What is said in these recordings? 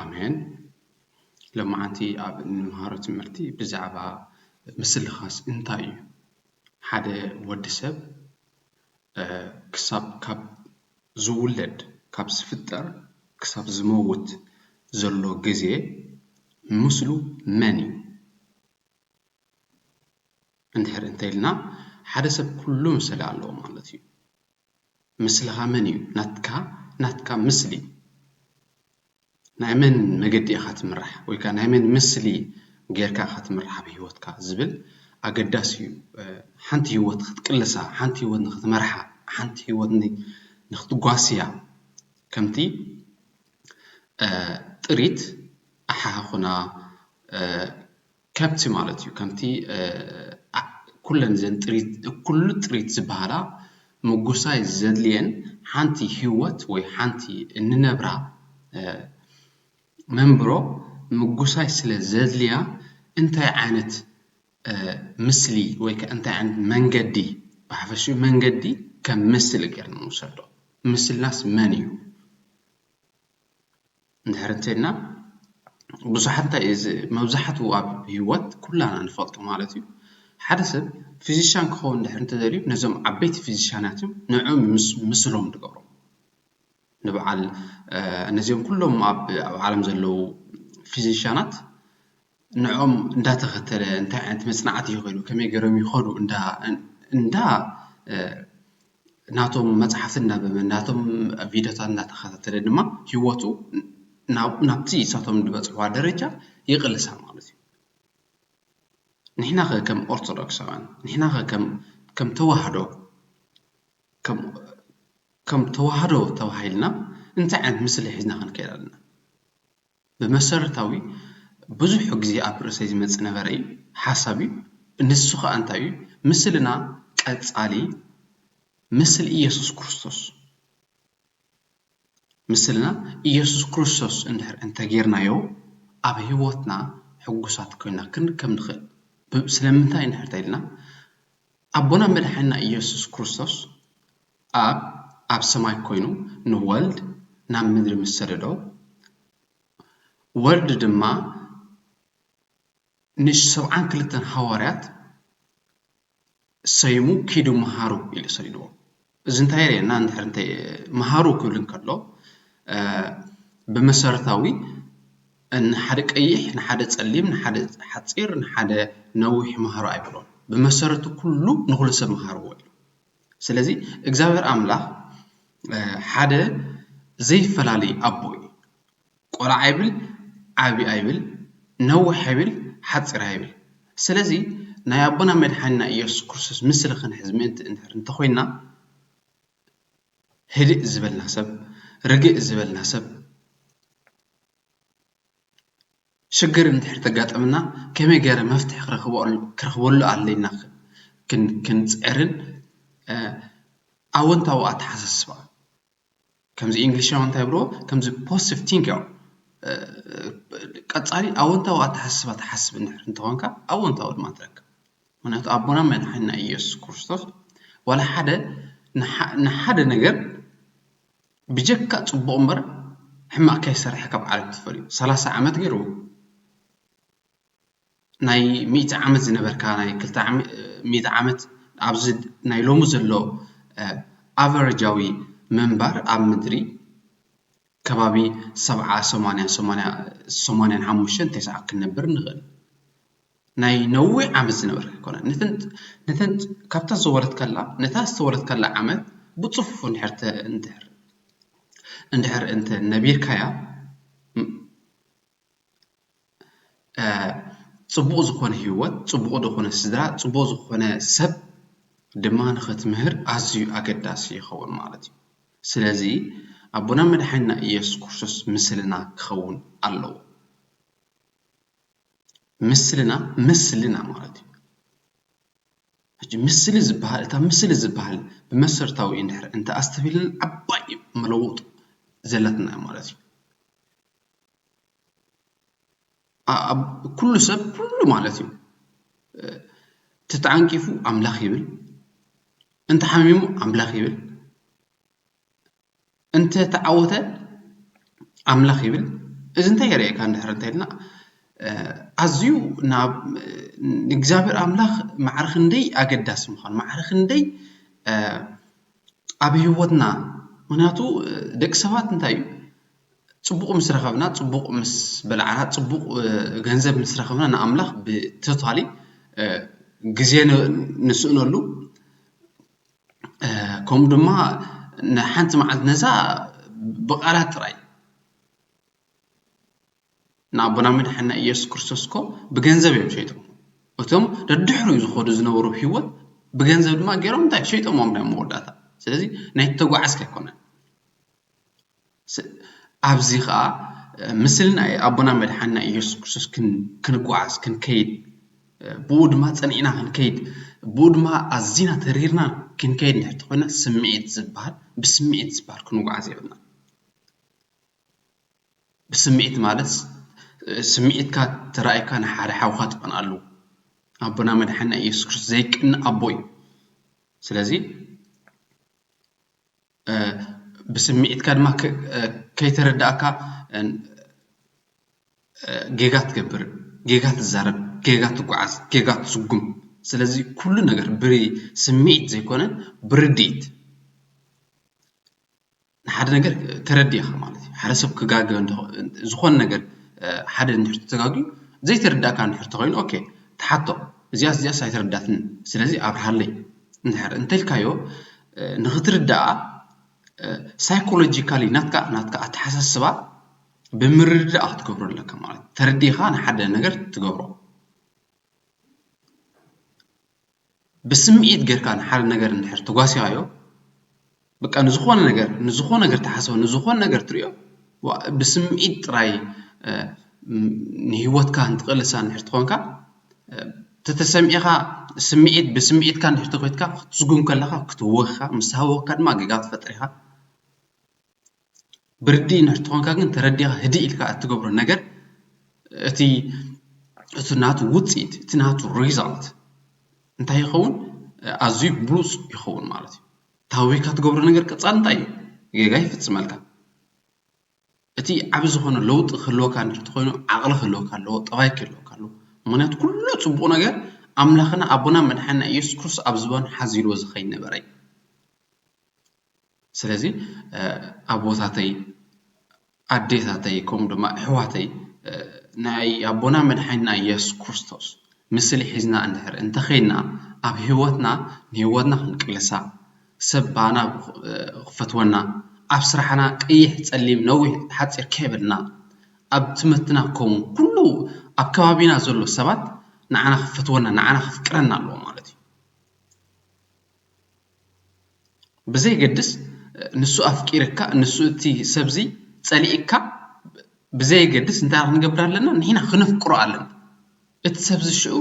ኣሜን ሎማዓንቲ ኣብ እንመሃሮ ትምህርቲ ብዛዕባ ምስልኻስ እንታይ እዩ ሓደ ወዲ ሰብ ክሳብ ካብ ዝውለድ ካብ ዝፍጠር ክሳብ ዝመውት ዘሎ ግዜ ምስሉ መን እዩ እንድሕር እንተይልና ሓደ ሰብ ኩሉ ምስላ ኣለዎ ማለት እዩ። ምስልኻ መን እዩ ናትካ ናትካ ምስሊ ናይ መን መገዲ ኢኻ ትምራሕ ወይ ከኣ ናይ መን ምስሊ ጌርካ ኢኻ ትምራሕ ኣብ ሂወትካ ዝብል ኣገዳሲ እዩ ሓንቲ ሂወት ክትቅልሳ ሓንቲ ሂወት ንኽትመርሓ ሓንቲ ሂወት ንኽትጓስያ ከምቲ ጥሪት ኣሓህኹና ከብቲ ማለት እዩ። ከምቲ ኩለን እዘን ጥሪት እኩሉ ጥሪት ዝበሃላ ምጉሳይ ዘድልየን ሓንቲ ህይወት ወይ ሓንቲ እንነብራ መንብሮ ምጉሳይ ስለ ዘድልያ እንታይ ዓይነት ምስሊ ወይ ከ እንታይ ዓይነት መንገዲ ብሓፈሽኡ መንገዲ ከም ምስሊ ጌርና ንውሰዶ። ምስልናስ መን እዩ? እንድሕር እንተይልና ብዙሓት እንታይ እዩ መብዛሕትኡ ኣብ ሂወት ኩላና ንፈልጦ ማለት እዩ ሓደ ሰብ ፊዚሻን ክኸውን እንድሕር እንተደልዩ ነዞም ዓበይቲ ፊዚሻናት እዮም ንዕኦም ምስሎም ዝገብሮ ንብዓል ነዚኦም ኩሎም ኣብ ዓለም ዘለዉ ፊዚሻናት ንዕኦም እንዳተኸተለ እንታይ ዓይነት መፅናዕቲ ይኸዱ ከመይ ገይሮም ይኸዱ እንዳ ናቶም መፅሓፍቲ እናንበበ ናቶም ቪድዮታት እናተኸታተለ ድማ ህይወቱ ናብቲ ንሳቶም ዝበፅሕዋ ደረጃ ይቕልሳ ማለት እዩ። ንሕና ከ ከም ኦርቶዶክሳውያን ንሕና ከ ከም ተዋህዶ ከም ተዋህዶ ተባሂልና እንታይ ዓይነት ምስሊ ሒዝና ክንከይድ ኣለና? ብመሰረታዊ ብዙሕ ግዜ ኣብ ርእሰይ ዝመጽእ ነበረ እዩ፣ ሓሳብ እዩ፣ ንሱ ኸኣ እንታይ እዩ? ምስልና ቀጻሊ ምስል ኢየሱስ ክርስቶስ፣ ምስልና ኢየሱስ ክርስቶስ እንድሕር እንተ ጌርናዮ ኣብ ሕይወትና ሕጉሳት ኮይና ክንከም ንኽእል። ስለምንታይ እንድሕር ተኢልና ኣቦና መድሓኒና ኢየሱስ ክርስቶስ ኣብ ኣብ ሰማይ ኮይኑ ንወልድ ናብ ምድሪ ምስ ሰደዶ፣ ወልድ ድማ ንሰብዓን ክልተን ሃዋርያት ሰይሙ ኪዱ መሃሩ ኢሉ ሰዲድዎም። እዚ እንታይ የርእየና? እንድሕር እንተ መሃሩ ክብል እንከሎ ብመሰረታዊ ንሓደ ቀይሕ ንሓደ ጸሊም ንሓደ ሓጺር ንሓደ ነዊሕ መሃሩ ኣይበሎን። ብመሰረቱ ኩሉ ንኹሉ ሰብ መሃርዎ ኢሉ። ስለዚ እግዚኣብሔር ኣምላኽ ሓደ ዘይፈላለይ ኣቦ እዩ። ቆልዓ ኣይብል ዓቢ ኣይብል ነውሕ ኣይብል ሓጺር ኣይብል ስለዚ ናይ ኣቦና መድሓኒና ኢየሱስ ክርስቶስ ምስሊ ክንሕዝ ምእንቲ እንድሕር እንተኾይንና ህድእ ዝበልና ሰብ ርግእ ዝበልና ሰብ ሽግር እንድሕር ተጋጠመና ከመይ ገይረ መፍትሒ ክረኽበሉ ኣለና ክንፅዕርን ኣወንታዊ ኣተሓሳስባ ከምዚ እንግሊሻውያን እንታይ ይብልዎ ከምዚ ፖዘቲቭ ቲንክ እዮም ቀፃሊ ኣወንታዊ ኣተሓሳስባ ትሓስብ እንድሕር እንተኾይንካ ኣወንታዊ ድማ ትረክብ ምኽንያቱ ኣቦና መድሓኒና ኢየሱስ ክርስቶስ ዋላ ሓደ ንሓደ ነገር ብጀካ ጽቡቅ እምበር ሕማቅ ከይሰርሐ ካብ ዓለም ተፈልዩ ሰላሳ ዓመት ጌሩ ናይ ሚእቲ ዓመት ዝነበርካ ናይ ክልተ ሚእቲ ዓመት ኣብዚ ናይ ሎሚ ዘሎ ኣቨረጃዊ ምንባር ኣብ ምድሪ ከባቢ ሰብዓ ሰማንያ ሰማንያን ሓሙሽተን ተስዓን ክንነብር ንኽእል። ናይ ነዊሕ ዓመት ዝነበርካ ኣይኮነን። ነተን ካብታ ዝወረድካላ ነታ ዝተወረድካላ ዓመት ብጽፉፉ እንድሕር እንድሕር እንተ ነቢርካያ ጽቡቕ ዝኾነ ህይወት፣ ጽቡቕ ዝኾነ ስድራ፣ ጽቡቕ ዝኾነ ሰብ ድማ ንኽትምህር ኣዝዩ ኣገዳሲ ይኸውን ማለት እዩ። ስለዚ ኣቦና መድሓኒና ኢየሱስ ክርስቶስ ምስልና ክኸውን ኣለዎ። ምስልና ምስልና ማለት እዩ። ሕጂ ምስሊ ዝበሃል እታ ምስሊ ዝበሃል ብመሰርታዊ እንድሕር እንተ ኣስተብሂልና ዓባይ መለወጢ ዘለትና እያ ማለት እዩ። ኣብ ኩሉ ሰብ ኩሉ ማለት እዩ ተተዓንቂፉ ኣምላኽ ይብል፣ እንተሓሚሙ ኣምላኽ ይብል፣ እንተተዓወተ ኣምላኽ ይብል እዚ እንታይ የርእየካ እንድሕር እንተልና ኣዝዩ ናብ ንእግዚኣብሔር ኣምላኽ ማዕረ ክንደይ ኣገዳሲ ምዃኑ ማዕረ ክንደይ ኣብ ህይወትና ምክንያቱ ደቂ ሰባት እንታይ እዩ ፅቡቕ ምስ ረኸብና ፅቡቕ ምስ በላዕና ፅቡቕ ገንዘብ ምስ ረኸብና ንኣምላኽ ብቶታሊ ግዜ ንስእነሉ ከምኡ ድማ ንሓንቲ መዓልቲ ነዛ ብቓላት ጥራይ ንኣቦና መድሓኒና ኢየሱስ ክርስቶስ እኮ ብገንዘብ እዮም ሸይጦሞ እቶም ደድሕሩ ዝኸዱ ዝነበሩ ህይወት ብገንዘብ ድማ ገይሮም እንታይ ሸይጦሞም እዮም መወዳእታ ስለዚ ናይ ተጓዓዝኪ ኣይኮነን ኣብዚ ኸኣ ምስሊ ናይ ኣቦና መድሓኒና እየሱስ ክርስቶስ ክንጉዓዝ ክንከይድ ብኡ ድማ ጸኒዕና ክንከይድ ብኡ ድማ ኣዚና ተሪርና ክንከይድ እንድሕር ተኾይና ስምዒት ዝብሃል ብስምዒት ዝብሃል ክንጉዓዝ የብልና። ብስምዒት ማለት ስምዒትካ ተራኢካ ንሓደ ሓውካ ትቀንኣሉ ኣቦና መድሓኒና እየሱስ ክርስቶስ ዘይቅነእ ኣቦ እዩ። ስለዚ ብስሚዒትካ ድማ ከይተረዳእካ ጌጋ ትገብር፣ ጌጋ ትዛረብ፣ ጌጋ ትጉዓዝ፣ ጌጋ ትስጉም። ስለዚ ኩሉ ነገር ብስሚዒት ዘይኮነ ብርድኢት ንሓደ ነገር ተረዲእኻ ማለት እዩ። ሓደ ሰብ ክጋገ ዝኾነ ነገር ሓደ እንድሕር ተጋግዩ ዘይተረዳእካ እንድሕር ተኾይኑ ኦኬ ትሓቶ እዚኣ እዚኣስ ኣይተረዳእትንን ስለዚ ኣብርሃለይ እንድሕር እንተልካዮ ንክትርዳኣ ሳይኮሎጂካሊ ናትካ ናትካ ኣተሓሳስባ ብምርድዳእ ክትገብሮ ኣለካ ማለት እዩ ተረዲእካ ንሓደ ነገር ትገብሮ ብስምዒት ጌርካ ንሓደ ነገር እንድሕር ተጓሲኻዮ በቃ ንዝኾነ ነገር ንዝኾነ ነገር ተሓስቦ ንዝኾነ ነገር ትሪኦ ብስምዒት ጥራይ ንሂወትካ እንትቕልሳ እንድሕር ትኾንካ ተተሰሚዕኻ ስምዒት ብስምዒትካ እንድሕር ተኾይትካ ክትስጉም ከለኻ ክትህወኽኻ ምስ ተሃወኽካ ድማ ጌጋ ክትፈጥር ኢኻ ብርዲእ እንድሕር ተኾንካ ግን ተረዲኻ ህድእ ኢልካ እትገብሮ ነገር እቲ እቲ ናቱ ውፅኢት እቲ ናቱ ሪዛልት እንታይ ይኸውን ኣዝዩ ብሉፅ ይኸውን ማለት እዩ ተሃዊኽካ ትገብሮ ነገር ቀፃሊ እንታይ እዩ ጌጋ ይፍፅመልካ እቲ ዓቢ ዝኾነ ለውጢ ክህልወካ እንድሕር ተኾይኑ ዓቕሊ ክህልወካ ኣለዎ፣ ጠባይ ክህልወካ ኣለዎ። ምኽንያቱ ኩሉ ጽቡቕ ነገር ኣምላኽና ኣቦናን መድሓኒና ኢየሱስ ክርስቶስ ኣብ ዝባኑ ሓዚልዎ ዝኸይድ ነበረ እዩ። ስለዚ ኣቦታተይ፣ ኣዴታተይ ከምኡ ድማ ኣሕዋተይ ናይ ኣቦና መድሓኒና ኢየሱስ ክርስቶስ ምስሊ ሒዝና እንድሕር እንተኸይድና ኣብ ህይወትና ንህይወትና ክንቅልሳ ሰብ ብኣና ክፈትወና ኣብ ስራሕና ቀይሕ ጸሊም ነዊሕ ሓጺር ከይበልና ኣብ ትምህርትና ከሙ ኩሉ ኣብ ከባቢና ዘሎ ሰባት ንዓና ክፈትወና ንዓና ከፍቅረና ኣለዎ ማለት እዩ ብዘይገድስ ንሱ ኣፍቂርካ ንሱ እቲ ሰብዚ ጸሊእካ ብዘየገድስ እንታይ ክንገብር ኣለና ንሕና ክነፍቅሮ ኣለና እቲ ሰብዚ ሽዑ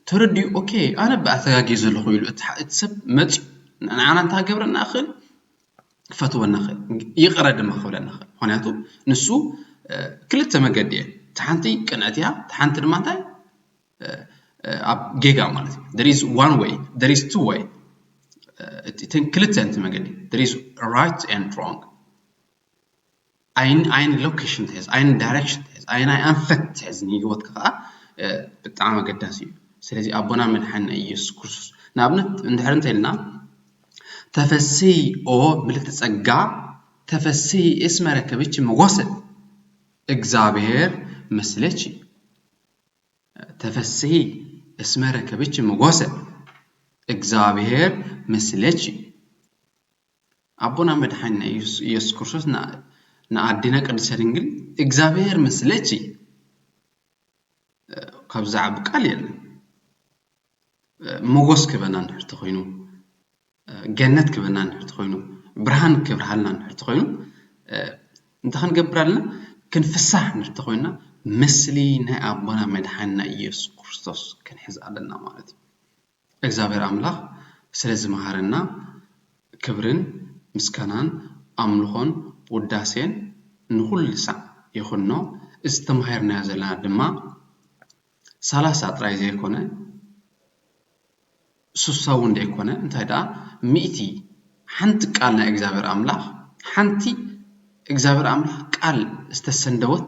ተረዲኡ ኦኬ ኣነባ ኣተጋግየ ዘለኹ ኢሉ እቲ ሰብ መጺኡ ንዓና እንታይ ክገብረና ይኽእል ክፈትወና ይኽእል ይቕረ ድማ ክብለና ይኽእል ምክንያቱ ንሱ ክልተ መገዲ እየ እቲ ሓንቲ ቅንዕቲ እያ እቲ ሓንቲ ድማ እንታይ ኣብ ጌጋ ማለት እዩ there is one way there is two way እተን ክልተ እንቲ መገዲ there is right and wrong ኣይን ኣይን ሎከሽን ትሕዝ ኣይን ዳይረክሽን ትሕዝ ኣይን ኣይ ኣንፈት ትሕዝ ንሂወትካ ከኣ ብጣዕሚ ኣገዳሲ እዩ ስለዚ ኣቦና መድሓኒና ኢየሱስ ክርስቶስ ንኣብነት እንድሕር እንተልና ተፈስሂ ኦ ምልእቲ ጸጋ ተፈስሂ እስመ ረከብኪ ሞገሰ እግዚኣብሔር ምስሌኪ ተፈስሂ እስመ ረከብኪ ሞገሰ እግዚኣብሔር ምስሌኪ ኣቦና መድሓኒና ኢየሱስ ክርስቶስ ንኣዴና ቅድስተ ድንግል እግዚኣብሔር ምስለኪ ካብ ዝዓቢ ቃል የለን ሞጎስ ክበና እንድሕር ተኾይኑ ገነት ክበና እንድሕር ተኾይኑ ብርሃን ክብርሃልና እንድሕር ተኾይኑ እንታይ ክንገብር ኣለና ክንፍሳሕ እንድሕር ተኾይንና ምስሊ ናይ ኣቦና መድሓኒና ኢየሱስ ክርስቶስ ክንሕዝ ኣለና ማለት እዩ እግዚኣብሔር ኣምላኽ ስለ ዝመሃረና ክብርን ምስጋናን ኣምልኾን ውዳሴን ንኹሉ ሳዕ ይኹኖ እዚ ተማሂርናዮ ዘለና ድማ ሰላሳ ጥራይ ዘይኮነ ስሳ እውን ዘይኮነ እንታይ ደኣ ሚእቲ ሓንቲ ቃል ናይ እግዚኣብሔር ኣምላኽ ሓንቲ እግዚኣብሔር ኣምላኽ ቃል ዝተሰንደወት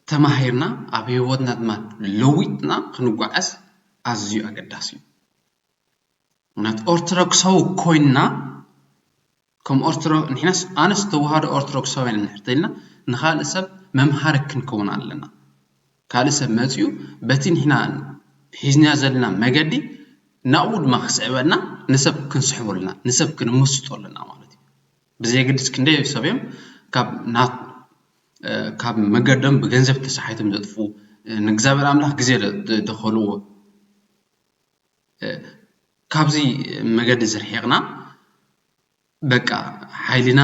ተማሂርና ኣብ ሂወትና ድማ ለዊጥና ክንጓዓዝ ኣዝዩ ኣገዳሲ እዩ። ምኽንያቱ ኦርቶዶክሳዊ ኮይና ከም ኦርቶዶ ንሕናስ ኣነስ ተዋህዶ ኦርቶዶክሳውያን ኢና እንድሕር ተይልና ንኻልእ ሰብ መምሃሪ ክንከውን ኣለና። ካልእ ሰብ መጺኡ በቲ ንሕና ሒዝናዮ ዘለና መገዲ ናብኡ ድማ ክስዕበና ንሰብ ክንስሕቦ ኣለና ንሰብ ክንምስጦ ኣለና ማለት እዩ። ብዘየገድስ ክንደይ ሰብ እዮም ካብ መገዶም ብገንዘብ ተሰሓይቶም ዘጥፉ ንእግዚኣብሔር ኣምላኽ ግዜ ደኸልዎ ካብዚ መገዲ ዝርሒቕና በቃ ሓይልና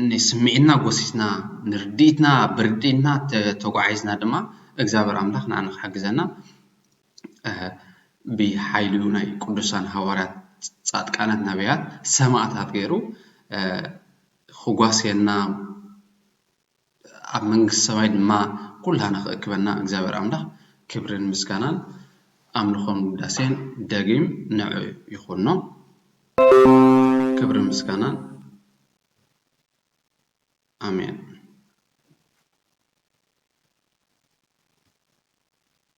ንስምዒትና ጎሲስና ንርድኢትና ብርድኢትና ተጓዒዝና ድማ እግዚኣብሔር ኣምላኽ ንኣና ክሕግዘና። ብሓይሉ ናይ ቅዱሳን ሃዋርያት ጻድቃናት ነብያት ሰማእታት ገይሩ ኽጓስየና ኣብ መንግስቲ ሰማይ ድማ ኩላህና ኽእክበና እግዚኣብሔር ኣምላኽ ክብርን ምስጋናን ኣምልኾን ውዳሴን ደጊም ንዑ ይኹኖ ክብርን ምስጋናን ኣሜን።